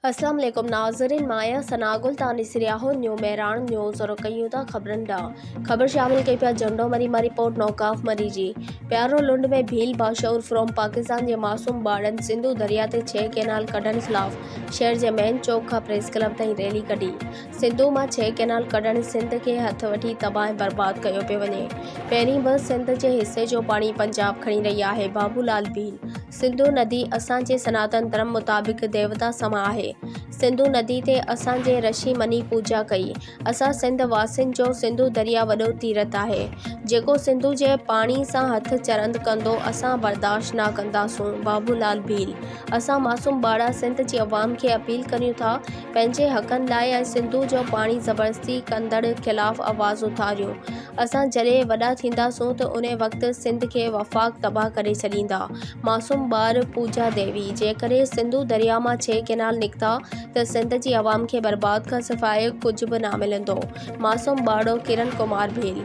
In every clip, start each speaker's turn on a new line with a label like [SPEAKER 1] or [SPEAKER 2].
[SPEAKER 1] اسلام عليڪم ناظرين مان آهيان ثنا گل توهان ڏسي رهيا آهو نيو مهراڻ نيوز رڪيون ٿا خبرن ڏانهن خبر شامل ڪئي پيا جهنڊو مري مان رپورٽ نوڪاف مري جي پيارو لنڊ ۾ ڀيل باشعور فرام پاڪستان جي معصوم ٻارڙن سنڌو دريا تي ڇهه ڪئنال ڪڍڻ خلاف شهر جي مين چوڪ کان پريس ڪلب تائين ريلي ڪڍي سنڌو مان ڇهه ڪئنال ڪڍڻ سنڌ کي هٿ وٺي تباهه ۽ برباد ڪيو پيو وڃي پهرين به سنڌ جي حصي جو پاڻي پنجاب کڻي رهي آهي بابو لال ڀيل سنڌو ندي اسان جي سناتن ڌرم مطابق ديوتا سما آهي. سنڌو ندي تي اسان جي رشي مني پوڄا ڪئي. اسان سنڌ واسين جو سنڌو دريا وڏو تيرٿ آهي. جيڪو سنڌو جي پاڻي سان هٿ چرند ڪندو اسان برداشت نه ڪنداسون، بابو لال ڀيل. اسان معصوم ٻارڙا سنڌ جي عوام کي اپيل ڪريون ٿا پنهنجي حقن لاء ۽ سنڌو جو پاڻي زبردستي ڪندڙ خلاف آواز اٿاريون. اسان جڏهن وڏا ٿينداسون ته ان وقت سنڌ کي وفاق تباهه ڪري ڇڏيندا. معصوم ٻار پوجا ديوي، جيڪڏهن سنڌو درياء مان ڇهه ڪئنال نڪتا ته سنڌ جي عوام کي برباد کان سواء ڪجهه به نه ملندو. معصوم ٻارڙو ڪرن ڪمار ڀيل،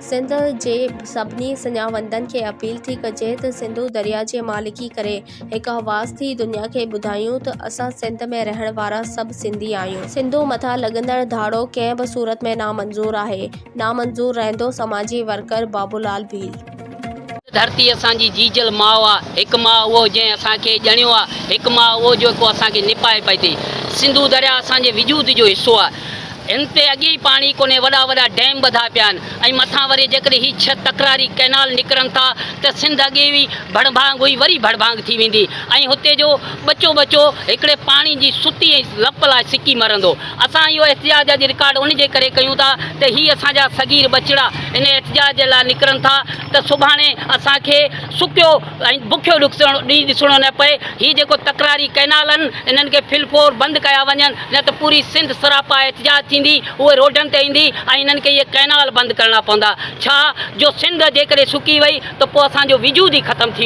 [SPEAKER 1] سنڌ جي سڀني سڃاوندن کي اپيل ٿي ڪجي ته سنڌو درياء جي مالڪي ڪري هڪ حواس ٿي دنيا کي ٻڌايون ته اسان سنڌ ۾ رهڻ وارا سڀ سنڌي آهيون سنڌو مٿان لڳندڙ ڌاڙو ڪنهن به صورت ۾ نامنظور آهي نامنظور رهندو سماجي ورڪر بابولال ڀيل. هڪ ڌرتي
[SPEAKER 2] اسان جي جيجل ماء آ هڪ ماء اهو جنهن اسان کي ڄڻيو آ هڪ ماء اهو جيڪو اسان کي نپائي پئي ٿي سنڌو درياء اسان جي وجود جو حصو آ هن تي اڳي ئي پاڻي ڪونهي، وڏا وڏا ڊيم ٻڌا پيا آهن ۽ مٿان وري جيڪڏهن هي ڇهه تڪراري ڪئنال نڪرن ٿا ته سنڌ اڳي ئي ڀڙڀانگ هئي وري ڀڙڀانگ ٿي ويندي ۽ هتي جو ٻچو ٻچو هڪڙي پاڻي جي ستي ۽ لپ لاء سڪي مرندو. اسان اهو احتجاج اڄ رڪارڊ ان جي ڪري ڪيون ٿا ته هي اسان جا صغير ٻچڙا ان احتجاج جي لاء نڪرن ٿا ته سڀاڻي اسان کي سڪيو ۽ بکيو ڏينهن ڏسڻو نه پئي. هي جيڪو تڪراري ڪئنال آهن انهن کي فل فور بند ڪيا وڃن. نه ته پوري سنڌ سراپا احتجاج ٿيندي، اهي روڊن تي ايندي ۽ هنن کي اهي ڪئنال بند ڪرڻا پوندا. ڇا جو سنڌ جيڪڏهن سڪي وئي ته پوء اسان جو وجود ئي ختم ٿي ويندو.